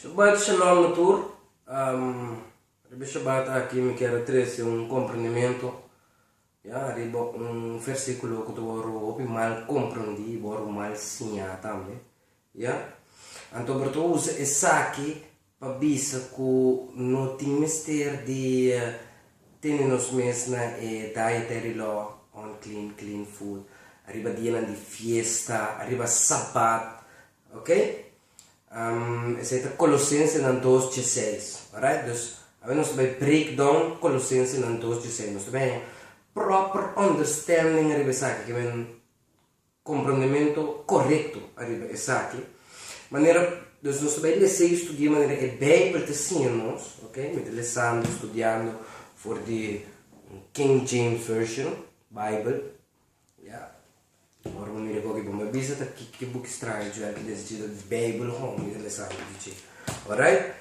Shabbat shalom na tur. Um, riba Shabbat aki mi ker trece un comprendimento ya riba un versículo ku ta wor hopi mal comprendí, wor mal siñá tambe. Ya. Anto por ta usa esaki Pa bisa ku no tin mester di tene nos mes na e Dietary Law on Clean, Clean Food, ariba dianan di fiesta, ariba sabat, ok? Esei ta Kolosensenan dos dje seis, alright? Dus, awe nos ta bai break down Kolosensenan dos dje seis. Nos ta bai haya proper understanding ariba esaki ke men. Comprondementu corecto ariba esaki. Manera, dus nos ta bay lesa y studia manera e Bijbel ta siña nos, ok, mi ta lesando, studiando for di un King James Version Bijbel, ya. Ora bo mira gobi, bo mi a bisa ta kiko ki buki straño dje aki den sentido di Bijbel hon mi ta lesando di dje, alright.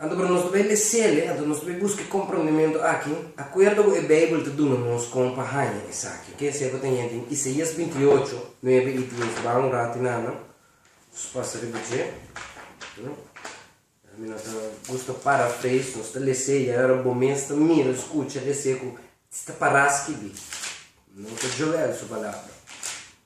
Anto pero nos ta bay mesele, anto nos ta bay busque comprondementu aki, acuerdo cu e Bijbel ta duna nos con pa haya esaki, ok, esaki cu ta yenta den Isaias binti y ocho, nuebe y dies, baha un rati nada, nos pasa riba dje, mi no ta gusta paraphrase, nos ta lese y ora bo mes ta mira, scucha, lese cu ta para scibi, no ta joga el su palabra,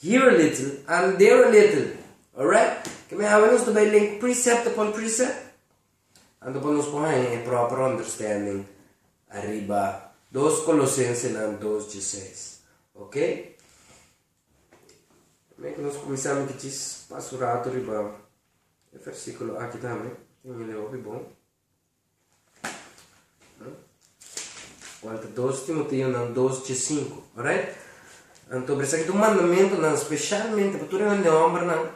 Here a little and there a little, alright? Ke mi hawe nos ta bay link precept upon precept? Anto pa nos por haña e proper understanding ariba dos Colosensenan dos djeseis, ok? Mira ke nos kuminsá mi kichis pas un ratu riba e versíkulo aki tambe, tin e lei hopi bon. Cuanta dos Timoteonan dos dje sinku, alright? Anto por esaki ta un mandamentunan specialmente pa tur e hende hombernan,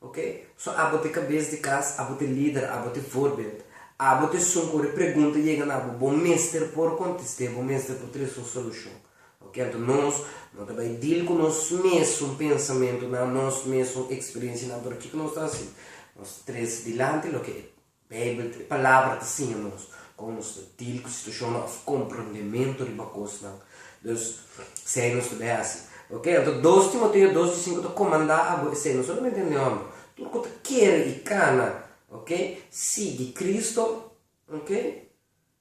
ok? So abo ta e cabes di cas, abo ta e lider, abo ta e voorbeeld, abo ta esun cu ora e pregunta yega na bo, bo mester por contest'é, bo mester por trece un solucion, ok? Anto nos no ta bay deal cu nos mesun pensamentunan, nos mesun experiencianan, pero kico nos ta haci? Nos ta trece dilanti loke Bijbel ta e Palabra ta siña nos kon nos ta dil ku situashonnan òf komprondementu riba kosnan. Dus esei nos ta bin hasi. Oke, anto dos Timoteo dos di sinku ta komandá abo esei, no solamente un diomber, tur ku ta kere i kana, oke, sigui Kristu, oke,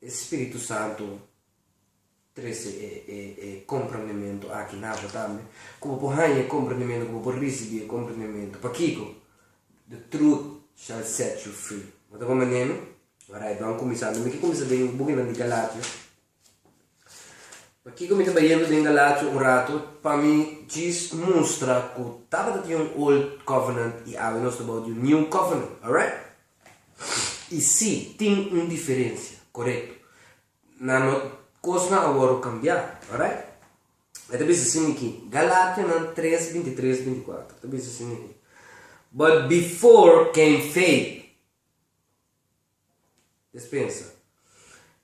E Spiritu Santu trece e e e comprendementu aki na bo tambe, cu bo por hanja e comprendementu, cu bo por ricibi e comprendementu. Pakico? The truth shall set you free. No ta comprende mi? Alright, lo a cuminsa. Mi ke cuminsa den bukinan di Galatia. Pakico mi ta bay yendo den Galatia un rato? Pa mi djis mustra cu tabata tin un Old Covenant y awe nos ta bou di un New Covenant. Alright? I sí, tin un diferensia, korekto. Na no kosnan awor lo kambiá, orait? E ta bisa sin ikí, Galatianan tres, binti tres, binti kuater, ta bisa sin ikí, But before came faith, despensa,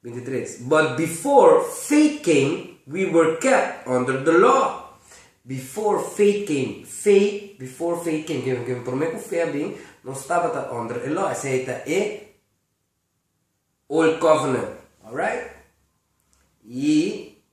23, But before faith came, we were kept under the law. Before faith came, faith, before faith came, ken ken promé ku fe a bin, nos tabata under e law, esei ta e Old Covenant, alright? I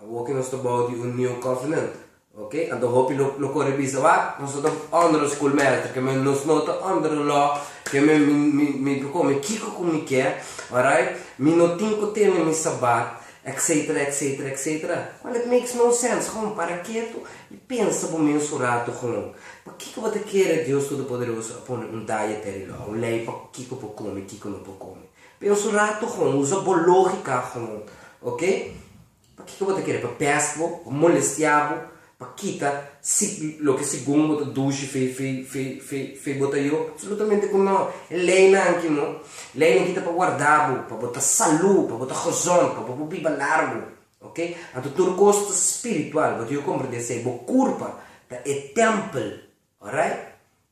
Awor ke nos ta bou di un New Covenant, ok, anto hopi lo lo kore bisa wak, nos no ta under un schoolmeester, ke men nos no ta under un law, ke men mi mi mi lo kome kiko ku mi ke, alright, mi no tin ku tene mi sabat, etcetera, etcetera, etcetera, cual it makes no sense, hon, para ketu i pensa bo mes un ratu, hon, pakiko bo ta kere Dios Todopoderoso a pone un dietary law, un lei pa kiko por kome, kiko no por kome, Pero su rato gon, usa bo lógika gon, ok? Pakiko bo ta kere pa pèst bo, pa molestia bo, pa kita si loke segun bo ta dushi fei fei fei fei fei bo ta yo? Absolutamente ku nò. E leinan aki no. Leinan aki ta pa warda bo, pa bo ta salú, pa bo ta gozon, pa bo por biba largu, ok? Anto tur kos ta spiritual, bo ta yo komprendé esei, bo kurpa ta e tèmpel, orait?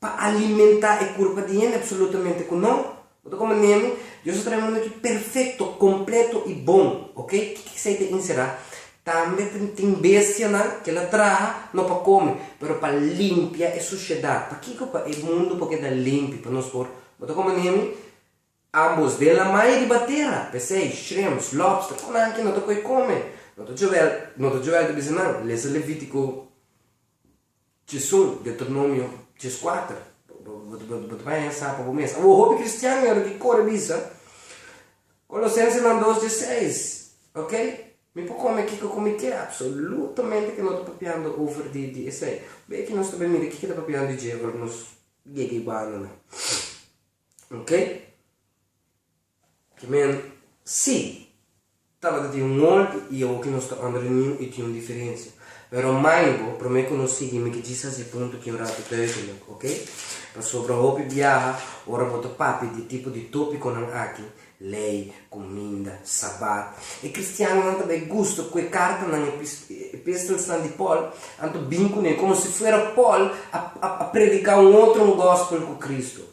Pa alimentá e kurpa di hende apsolutamente ku no. Bo ta kome nenu, Dios a traha e mundu aki perfekto, kompleto i bon, ok. Kiko esei ta inserá? Tambe ta tin bestianan, kel a traha no pa kome, pero pa limpia e sushedat. Pakiko? Pa e mundu por keda limpi pa nos por. Bo ta kome nenu? Ambos, den lamai i riba tera, pesei, shrimps, lobster, ku nan ki no ta koi kome? No ta Joel, no ta Joel ta bisa nan, lesa Levítiko. Tjezon, Deuteronomio tjezkuater, Bo ta baña sa pa bo mes. Awor, hopi kristian mi a lo ke kore bisa Kolosensenan dos dieseis, Ok, mi por kome kiko ku mi ke. Apsolutamente ke no ta papiando over di esei. Be ki nos ta bai mira kiko ta papiando di dje ora nos yega e bandanan. Ok. Amen. Sí, tabata tin un molde i awo ki nos ta unda runion i tin un diferensia. Pero mind bo, promé ku nos sigui mi ke djis hasi punto aki un ratu duidelik, ok? Pasobra hopi biaha ora bo ta papia di e tipo di topikonan aki, lei, kuminda, Sabat, e kristiannan ta bai gusta ku e kartanan, e epistelsnan di Pòl, anto bin kuné komo si fuera Pòl a prediká un otro ngòspel ku Kristu.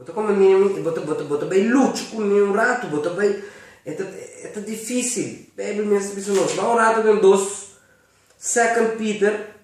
Bo ta kome mi ami y bo ta bo ta bo ta bay lucha cu mi un rato bo ta bay e ta e ta dificil Bijbel mes ta bisa nos ba un rato den dos second Peter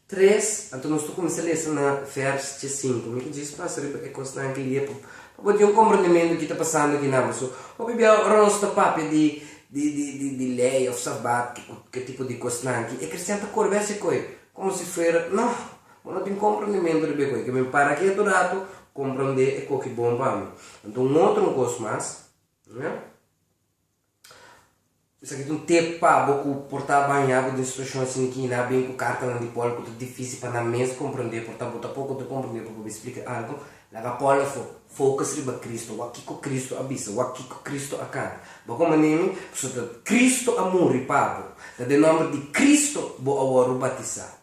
tres anto nos ta cuminsa lesa na vers dje cinco mi ta djis pasa riba e cos nan clia pa pa bo tin un comprendementu di ki ta pasando aki nan paso hopi bia ora nos ta papia di di di di di ley of sabat ki cu ke tipo di cos nan ki e cristian ta corbe haci coy como si fuera no Bo no tin komprondementu riba e koe. Kimin para ketu ratu komprondé e koki bon pa mi. Anto un otro un kos mas. Esaki ta un tep pa bo ku por ta bañá bo den situashon asina ki na bin ku kartanan di Pòl ku ta difísil pa nan mes komprondé por ta bo ta poko ta komprondé pa bo splika algu. Laga Pòl afó, Fokus riba Kristu. Wak kiko Kristu a bisa. Wak kiko Kristu a kanta. Bo ko manera mi? Pasobra Kristu a muri pa bo. Ta den nòmber di Kristu bo awor a batisá.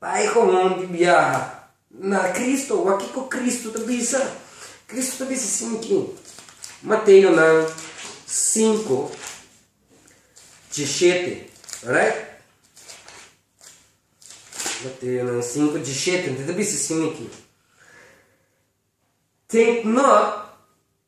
Bai ku hopi di biaha na Kristu. Wak kiko Kristu ta bisa. Kristu ta bisa sin aki, Mateo nan sinku diashete, right? Mateo nan sinku diashete, e ta bisa sin aki, Take not.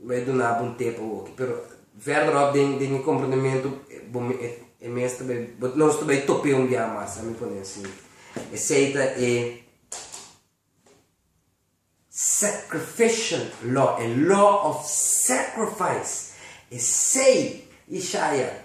Bo a duna bo un te pa woki, pero verderop den den mi comprendementu bo me e e mes ta bai bo nos ta bai top'e un biaha mas, a mi pone asi. Esey ta e sacrificial law, e law of sacrifice, esey Ishaya.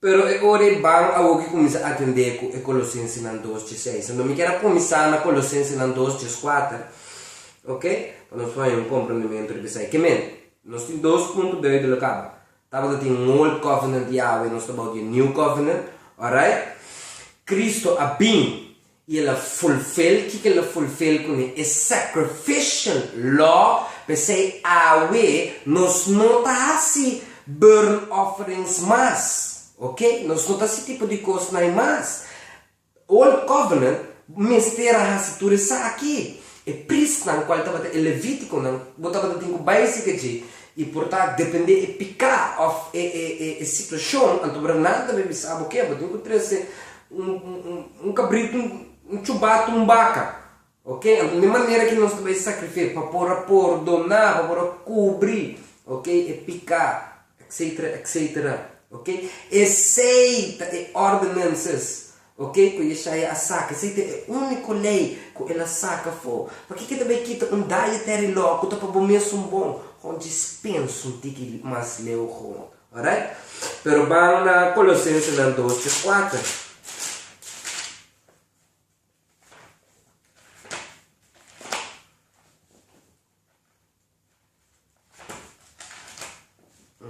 Pero e ora e ban awoki kuminsá atendé ku e Kolosensenan dos dje seis. Anto mi kier a kuminsá na Kolosensenan dos dje kuater, ok, pa nos por haña un komprondementu riba esei. Ke mende? Nos tin dos punto beu di lo kaba. Tabata tin un Old Covenant Yahwe, nos ta bou di e New Covenant, alright. Kristu a bin y el a fulfil kico el a fulfil cune e sacrificial law, pesey awe nos no ta haci burn offerings mas, ok, nos no ta haci tipo di cosnai mas, old covenant mester a haci tur esaki, e priestnan cual tabata e leviticonan bo tabata tin cu bay cerca dje, y por ta depende e pica of e situacion, anto bo ta nada ta bay bisa bo ke, bo tin cu trece un cabrito, un chubato, un baca, ok, anto n'e manera ki nos ta bai sacrifia pa por a pordona, pa por a cubri, ok, e pica, etcetera, etcetera, ok, esey ta e ordenances, ok, cu Yeshaya a saca, esey ta e unico ley cu el a saca fo, pakico e ta bai kita un dietary law cu ta pa bo mesun bon, ho djis pensa un tiki mas leu ho. Alright? Pero ban na Colosensenan dos dje kuater.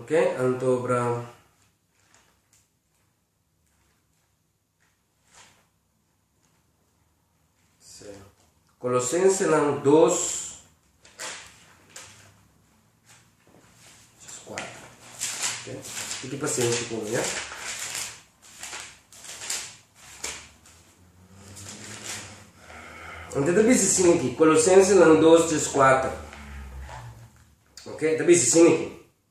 Oke, anto obra. Colosensenan dos jas kuater tiki pasenshi ku mi eh ta bisa sin aki Colosensenan dos jas kuater ta bisa sin aki.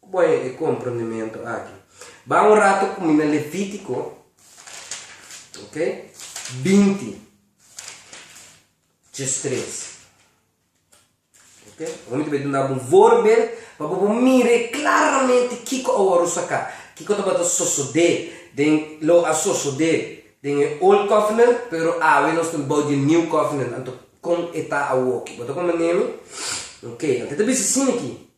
Ku bo a yega e komprondementu aki? Ban un ratu ku mi na Levítiko, ok, binti, djes tres, ok. Hoy mi ta duna bo un voorbeeld pa bo por mira klaramente kiko a wòrdu saka, kiko tabata sosodé den, lo a sosodé den e Old Covenant, pero awe nos ta bou di e New Covenant, anto kon e ta awoki? Bo ta komprendé mi? Ok, anto e ta bisa sin aki,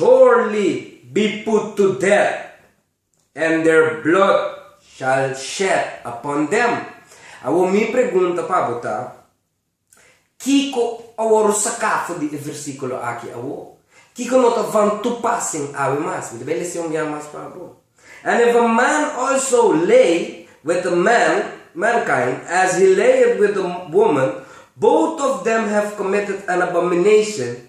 Surely be put to death, and their blood shall shed upon them. Awor mi pregunta pa bo ta, Kiko awor saka for di e versíkulo aki awor? Kiko no ta van tupa sin awe mas? Mi ta bai lesa un bia mas pa bo. And if a man also lay with a man, mankind, as he layeth with a woman, both of them have committed an abomination,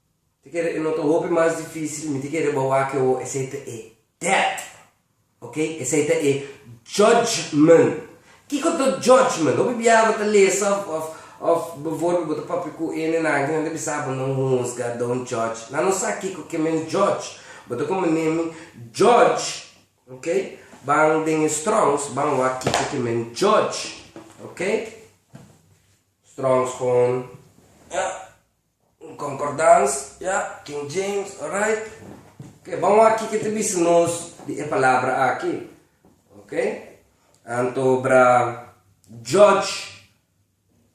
Te kere e nota hopi mas difícil, mi te kere bo wak ewo, esei ta e, death, ok, esei ta e, judgment. Kiko ta judgment? Hopi bia bo ta lesa of of of bevoorbeeld bo ta papia ku e nenanke nan ta bisa bo no huzga, don't judge, nan no sa kiko ke men judge, bo ta komo neem mi, judge, ok, ban den e Strongs ban wak kiko ke men judge, ok, Strongs kon, ah. Un concordans, ja, King James, orait. Oké, bon wak kiko ta bisa nos di e palabra aki. Oké, anto bra judge,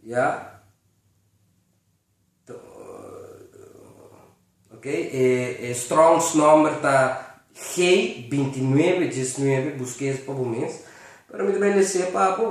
ja, ta, oké, e, e Strong's nomber ta G binti nuebe, diesnuebe, buske es pa bo mes, pero mi ta bai lese pa bo.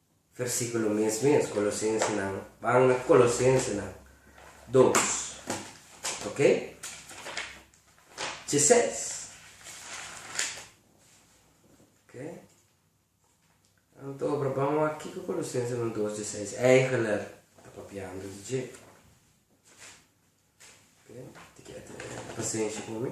Versíkulo mes mes, Kolosensenan. Ban na Kolosensenan dos, ok. Chi ses, ok. Anto obra ban wak kiko Kolosensenan dos chi seis eigeler ta papiando di dje. Ok, ti kier tene pasenshi ku mi?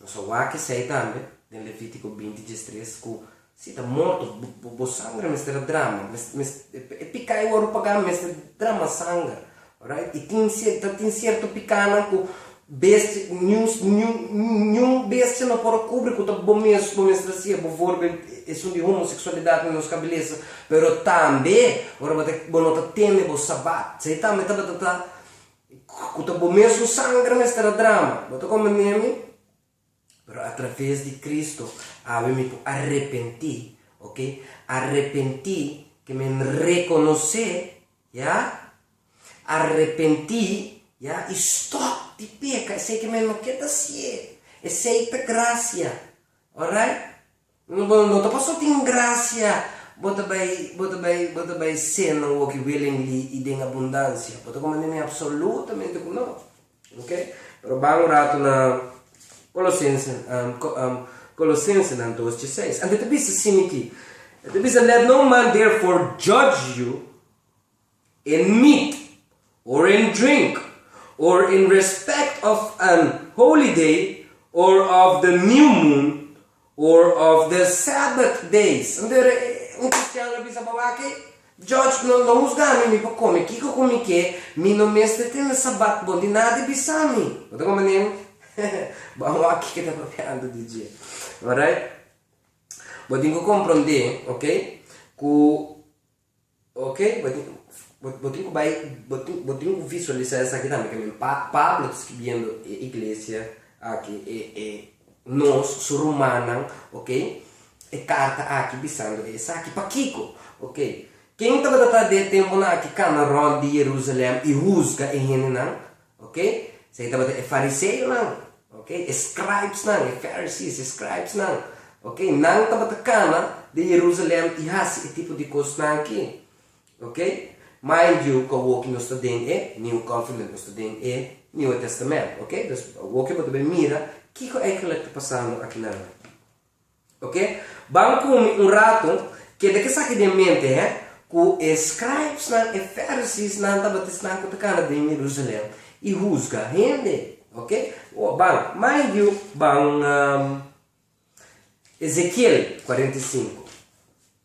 Nos a wak esei tambe den Levítiko binti djes tres, ku, Si ta morto, bo, bo sanger a mester a drama, mes, mes, e piká i wòrdu pagá mester drama sanger. Alright? I tin sier, ta tin sierto pikánan ku bestia, niun, niun, niun bestia no por a kubri ku ta bo mes, bo mester hasi e, bo wòrdu bel esun di homoseksualidat na nos kabelesa, pero tambe ora bo ta, bo no ta tende bo sabat. Esei tambe tabata ta Cu ta bo mesun sangre mester a drama. Bo ta comende mi, pero a traves di Cristo awe mi por arepenti, ok, arepenti ke men reconoce, ya, arepenti, ya, y stop di peca esey ke men no quier ta hacié, esey ta gracia, alright, No bo no ta paso tin gracia bo ta bay bo ta bay bo ta bay seno woki willingly y den abundancia bo ta coma nene absolutamente cu no ok pero ban un rato na colosense colosensenan dos chi seis ante ta bisa simi ki e ta bisa let no man therefore judge you. en meet, or en drink, or in respect of an holyday, or of the new moon, or of the sabbath days. Entonces e un cristian lo bisa pa wak ei, George no no husga mi mi por come kiko cu mi kier, mi no mester tene sabbat bon di nadie bisa mi, bo ta comprendendo? Ban wak kiko ta papiando di dje, alright. Bo tin cu comprende, ok, cu. Ok, bo tin bo tin ku bai bo tin bo tin ku visualisa esaki tambe ke men pa Pablo ta skibiendo e iglesia aki e e nos su rumannan ok e karta aki bisando e esaki pakiko ok ken tabata ta den e tempunan aki kana rònt di Jerusalèm i huzga e hendenan Oke, esei tabata e fariseonan, oke, e scribesnan, e Pharisees, e scribesnan, oke, nan tabata kana den Jerusalem i hasi e tipo di kosnan aki, oke. Mind you, ku awoki nos ta den e New Covenant, nos ta den e Nieuwe Testament, oke, dus awoki bo ta bai mira kiko eindelijk ta pasando akinan. Ok, ban kumi un ratu, keda ke saki den mente eh, ku e scribesnan, e fariseesnan tabata esnan ku ta kana den Jerusalen i husga hende. Ok, o ban, mind you, ban Ezekiel kuarenta i sinku.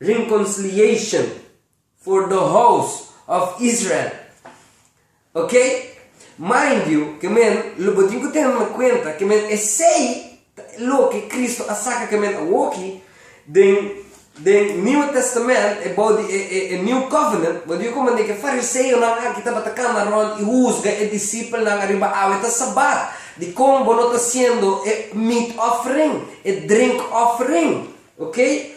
Rinconsliation for the house of Israel. Ok? Mind you, ke men, lo bo tin ku tene na kuenta ke men esei ta loke Kristu a saka ke men awoki den den Nieuwe Testament ebou di e e e New Covenant, bo di komo aneke fariseonan aki tabata kana rònt i huzga e disipelnan ariba awe ta Sabat, dikon bo no ta hasiendo e meat offering, e drink offering. Oké,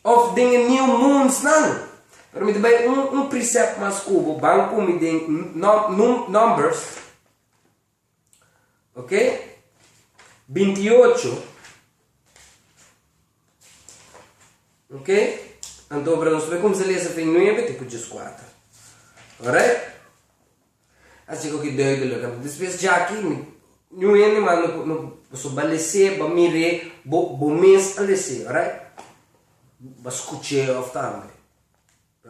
òf den e New Moonsnan. Pero mi ta bai un, un precept mas ku bo ban ku mi den Num, Num, Numbers, oké, binti i ocho, oké, anto ahora nos ta bai kuminsá lesa fin nuebe te ku djeskuater. Òrait? A si hopi duidelijk. Despues dja aki mi niun hende mas no por no por so ba les'é, ba mir'é, bo bo mes a les'é, orait? Ba skuch'é òf tambe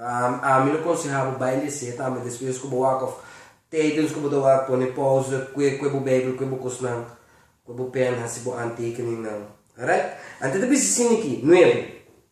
am ami lo konsehá bo bai les'é tambe despues ku bo wak òf tèdens ku bo ta wak pone pòuze kue kue bo beibel kue bo kosnan kue bo pèn hasi bo antekeningnan, orait? Anto ta bisa sin di ki nuevo.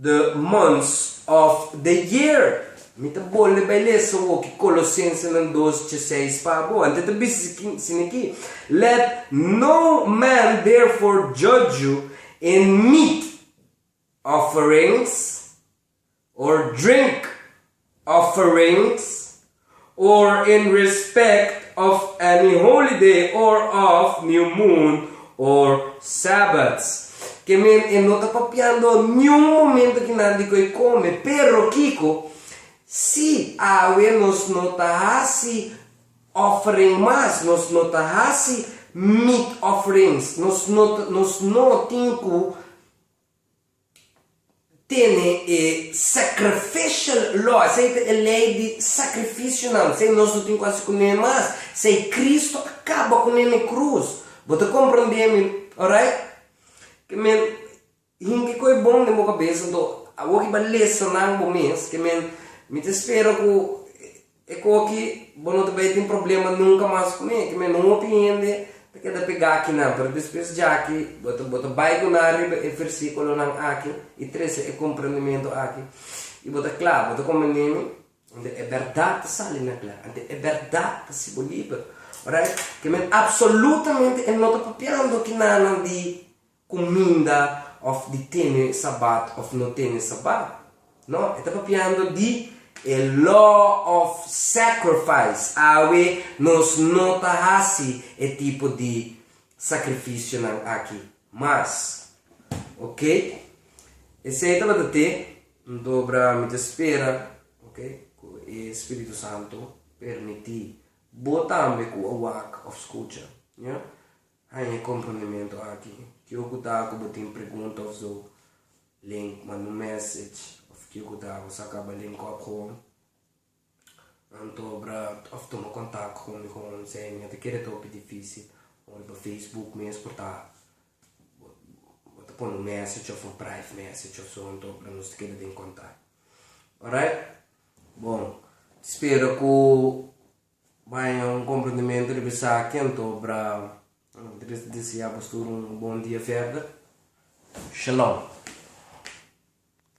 The months of the year. Mi ta bolbe bai lesa woki Colosensenan dos dje seis pa abo. Anto e ta bis'e sina ki, Let no man therefore judge you in meat offerings or drink offerings, or in respect of any holy day or of new moon or sabbaths. Ke men e no ta papiando niun momento ki nan di ku e kome, pero kiko? Si awe nos no ta hasi offering mas, nos no ta hasi meat offerings, nos no ta, nos no tin ku. tene e sacrificial law, esei ta e lei di sakrifisionan, esei nos no tin ku hasi ku nan mas, esei Kristu a kaba ku nan na e krus. Bo ta komprondé mi? Orait? Ke men, hinti ku e bon den bo kabes, anto awor ki ba lesonan bo mes, ke men, mi ta spera ku. E koki bo no ta bay tin problema nunka mas ku mi, ki mi no hopi hende ta keda pegá aki nan, pero despues djaki bo ta bo ta bay ku nan riba e versíkulonan aki i trese e komprendementu aki i bo ta kla, bo ta komend'é mi, ante e bèrdat ta sali nan kla, ante e bèrdat ta hasi bo liber, orait? Ke men apsolutamente e no ta papiando ki nanan di cuminda of di tene Sabat of no tene Sabat. No, e ta papiando di e law of sacrifice, awe nos no ta haci e tipo di sacrificionan aki mas. Ok, esey tabata te, Ndobra mi ta spera, ok, cu e Spiritu Santo permiti bo tambe cu a wak of scucha, ya. Haña e kompondementu aki. Kio ku ta ku bo tin pregunta òf zo len kuma no mèsej òf kio ku ta bo sa kaba len kòp hon? Anto obra òf tuma kontak ku mi ku hon sei mi ta kere ta hopi difisil o riba facebook mes por ta bo ta pone un mèsej òf un prive mèsej òf so anto obra nos ta keda den kontak. Orait bon spera ku. Baña un komprendimentu riba esaki, anto obra tres deseá bos tur un bon dia verda. Shalom.